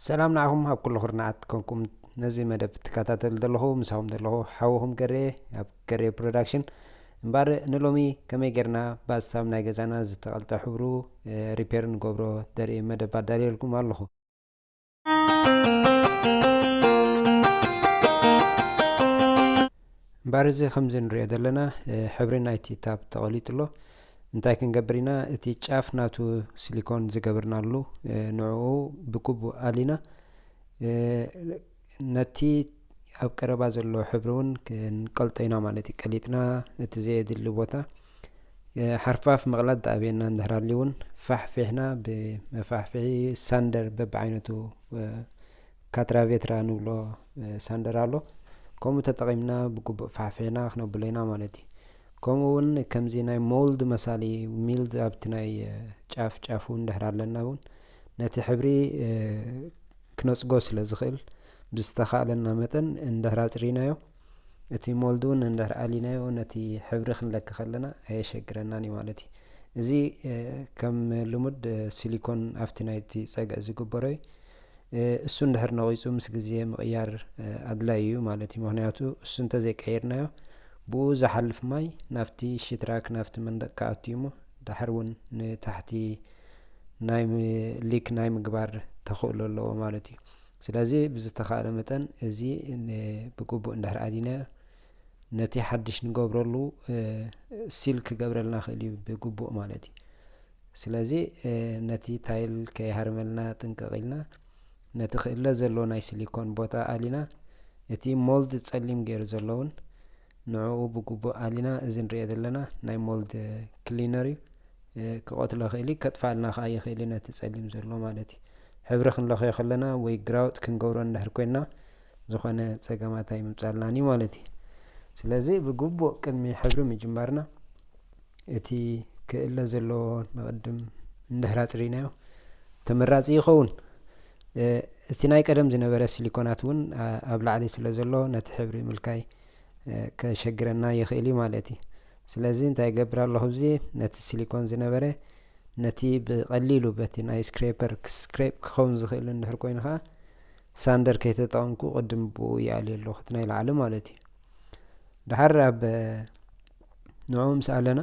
ሰላም ንዓኹም ኣብ ኩሉ ኩርናዓት ኮንኩም ነዚ መደብ ትከታተሉ ዘለኹ ምሳኹም ዘለኹ ሓውኹም ገሬ ኣብ ገሬ ፕሮዳክሽን እምበር ንሎሚ ከመይ ጌርና ብኣሳብ ናይ ገዛና ዝተቐልጠ ሕብሩ ሪፔር ንገብሮ ዘርኢ መደብ ኣዳልየልኩም ኣለኹ እምበር እዚ ከምዚ ንሪኦ ዘለና ሕብሪ ናይቲ ታብ ተቐሊጡ ኣሎ እንታይ ክንገብር ኢና እቲ ጫፍ ናቱ ሲሊኮን ዝገብርናሉ ንዕኡ ብግቡእ ኣሊና ነቲ ኣብ ቀረባ ዘሎ ሕብሪ እውን ክንቀልጦ ኢና ማለት እዩ ቀሊጥና እቲ ዘየድሊ ቦታ ሓርፋፍ ምቕላጥ ዳኣብየና እንድሕር ኣልዩ እውን ፋሕፊሕና ብመፋሕፍሒ ሳንደር በብዓይነቱ ካትራቬትራ ንብሎ ሳንደር ኣሎ ከምኡ ተጠቒምና ብግቡእ ፋሕፊሕና ክነብሎ ኢና ማለት እዩ ከምኡ ውን ከምዚ ናይ ሞልድ መሳሊ ሚልድ ኣብቲ ናይ ጫፍ ጫፍ ውን ድሕር ኣለና ውን ነቲ ሕብሪ ክነጽጎ ስለ ዝኽእል ብዝተኻእለና መጠን እንድሕር ኣጽሪናዮ እቲ ሞልድ ውን እንድሕር ኣሊናዮ ነቲ ሕብሪ ክንለክ ከለና ኣየሸግረናን እዩ ማለት እዩ እዚ ከም ልሙድ ሲሊኮን ኣብቲ ናይቲ ጸግዒ ዝግበሮ እዩ እሱ እንድሕር ነቒጹ ምስ ግዜ ምቕያር ኣድላዪ እዩ ማለት እዩ። ምኽንያቱ እሱ እንተዘይቀይርናዮ ብእኡ ዝሓልፍ ማይ ናብቲ ሽትራክ ናብቲ መንደቕ ክኣቱ እዩ እሞ ድሓር እውን ንታሕቲ ናይ ሊክ ናይ ምግባር ተኽእሎ ኣለዎ ማለት እዩ። ስለዚ ብዝተኻእለ መጠን እዚ ብግቡእ እንድሕር ኣዲናዮ ነቲ ሓድሽ ንገብረሉ ሲል ክገብረልና ክእል እዩ ብግቡእ ማለት እዩ። ስለዚ ነቲ ታይል ከይሃርመልና ጥንቅቕ ኢልና ነቲ ክእለ ዘሎ ናይ ስሊኮን ቦታ ኣሊና እቲ ሞልድ ጸሊም ገይሩ ዘሎ እውን ንዕኡ ብግቡእ ኣሊና እዚ ንሪኦ ዘለና ናይ ሞልድ ክሊነር እዩ ክቐትሎ ይኽእል እዩ ከጥፋልና ከዓ ይኽእል እዩ ነቲ ጸሊም ዘሎ ማለት እዩ ሕብሪ ክንለኽዮ ከለና ወይ ግራውጥ ክንገብሮ እንድሕር ኮይንና ዝኾነ ጸገማት ኣይምምጻልናን እዩ ማለት እዩ። ስለዚ ብግቡእ ቅድሚ ሕብሪ ምጅማርና እቲ ክእለ ዘለዎ ንቕድም እንድሕር ኣጽሪናዮ ተመራጺ ይኸውን። እቲ ናይ ቀደም ዝነበረ ሲሊኮናት እውን ኣብ ላዕሊ ስለ ዘሎ ነቲ ሕብሪ ምልካይ ከሸግረና ይኽእል እዩ ማለት እዩ። ስለዚ እንታይ ይገብር ኣለኹ እዚ ነቲ ሲሊኮን ዝነበረ ነቲ ብቐሊሉ በቲ ናይ ስክሬፐር ስክሬፕ ክኸውን ዝኽእል እንድሕር ኮይኑ ከዓ ሳንደር ከይተጠቐምኩ ቅድም ብኡ ይኣልዮ ኣለኹ እቲ ናይ ላዕሊ ማለት እዩ ድሓር ኣብ ንዑ ምስ ኣለና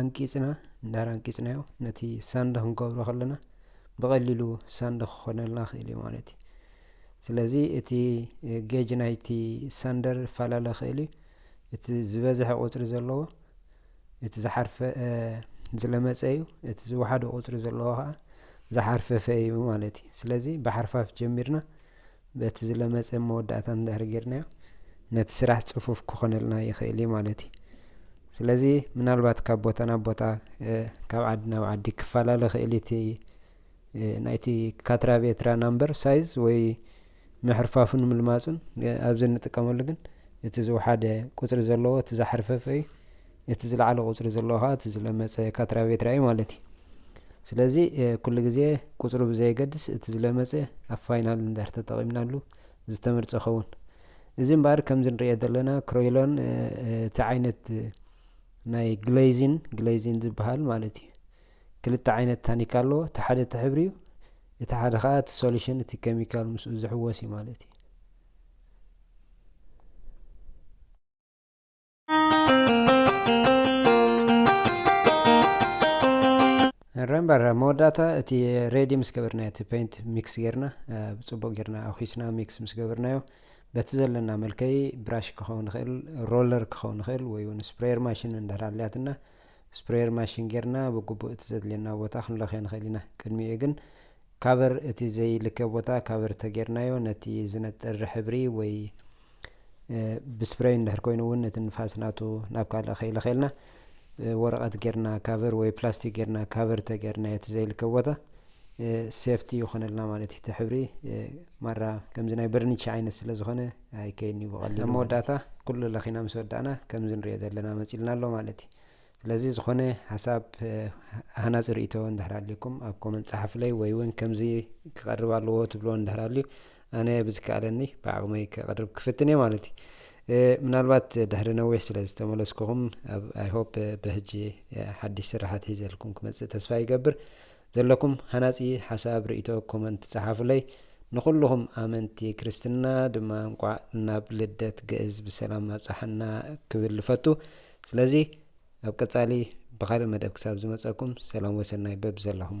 ኣንቂጽና እንዳር ኣንቂጽናዮ ነቲ ሳንደ ክንገብሮ ከለና ብቐሊሉ ሳንደ ክኾነልና ክእል እዩ ማለት እዩ ስለዚ እቲ ጌጅ ናይቲ ሳንደር ፈላለ ክእል እዩ እቲ ዝበዝሐ ቁፅሪ ዘለዎ እቲ ዝሓርፈ ዝለመፀ እዩ፣ እቲ ዝወሓደ ቁፅሪ ዘለዎ ከዓ ዝሓርፈፈ እዩ ማለት እዩ። ስለዚ ብሓርፋፍ ጀሚርና በቲ ዝለመፀ መወዳእታ እንድሕር ጌርናዮ ነቲ ስራሕ ፅፉፍ ክኾነልና ይኽእል እዩ ማለት እዩ። ስለዚ ምናልባት ካብ ቦታ ናብ ቦታ ካብ ዓዲ ናብ ዓዲ ክፈላለ ክእል እቲ ናይቲ ካትራ ቤትራ ናምበር ሳይዝ ወይ ምሕርፋፉን ምልማጹን ኣብዚ እንጥቀመሉ ግን እቲ ዝወሓደ ቁጽሪ ዘለዎ እቲ ዝሓርፈፈ እዩ እቲ ዝለዓለ ቁጽሪ ዘለዎ ከዓ እቲ ዝለመጸ ካትራቤትራ እዩ ማለት እዩ ስለዚ ኩሉ ግዜ ቁፅሩ ብዘየገድስ እቲ ዝለመፀ ኣብ ፋይናል እንድሕር ተጠቒምናሉ ዝተመርፀ ኸውን እዚ እምበኣር ከምዚ ንሪኦ ዘለና ክሮይሎን እቲ ዓይነት ናይ ግሌዚን ግሌዚን ዝበሃል ማለት እዩ ክልተ ዓይነት ታኒካ ኣሎ እቲ ሓደ እቲ ሕብሪ እዩ እቲ ሓደ ከዓ እቲ ሶሉሽን እቲ ኬሚካል ምስኡ ዝሕወስ እዩ ማለት እዩ ረምበር መወዳእታ እቲ ሬዲ ምስ ገበርናዮ እቲ ፔንት ሚክስ ጌርና ብፅቡቅ ጌርና ኣኪስና ሚክስ ምስ ገበርናዮ በቲ ዘለና መልከይ ብራሽ ክኸውን ይኽእል ሮለር ክኸውን ይኽእል ወይ እውን ስፕሬየር ማሽን እንዳሃልያትና ስፕሬየር ማሽን ጌርና ብግቡእ እቲ ዘድልየና ቦታ ክንለኽዮ ንኽእል ኢና። ቅድሚኡ ግን ካቨር እቲ ዘይልከ ቦታ ካቨር ተጌርናዮ ነቲ ዝነጥር ሕብሪ ወይ ብስፕሬይ እንድሕር ኮይኑ እውን እቲ ንፋስ ናቱ ናብ ካልእ ከይለኸየልና ወረቐት ጌርና ካቨር ወይ ፕላስቲክ ጌርና ካቨር ተጌርናዮ እቲ ዘይልከ ቦታ ሴፍቲ ይኾነልና ማለት እዩ። እቲ ሕብሪ ማራ ከምዚ ናይ በርኒቻ ዓይነት ስለ ዝኾነ ኣይከይድን'ዩ ብቐሊሉ ኣብ መወዳእታ ኩሉ ለኺና ምስ ወዳእና ከምዚ ንሪኦ ዘለና መጺልና ኣሎ ማለት እዩ። ስለዚ ዝኾነ ሓሳብ ሃናጺ ርእይቶ እንድሕር ኣልዩኩም ኣብ ኮመንት ጸሓፉለይ ወይ እውን ከምዚ ክቐርብ ኣለዎ ትብልዎ እንድሕር ኣልዩ ኣነ ብዝከኣለኒ ብዓቕመይ ከቕርብ ክፍትን እየ ማለት እዩ። ምናልባት ድሕሪ ነዊሕ ስለ ዝተመለስኩኹም ኣብ ኣይሆፕ ብሕጂ ሓድሽ ስራሓት ሒዘልኩም ክመጽእ ተስፋ ይገብር። ዘለኩም ሃናጺ ሓሳብ ርኢቶ ኮመንት ጸሓፉለይ ንኩሉኩም ኣመንቲ ክርስትና ድማ እንቋዕ ናብ ልደት ግእዝ ብሰላም ኣብጸሓና ክብል እፈቱ ስለዚ ኣብ ቀጻሊ ብካልእ መደብ ክሳብ ዝመጸኩም ሰላም ወሰናይ በብዘለኩሞ።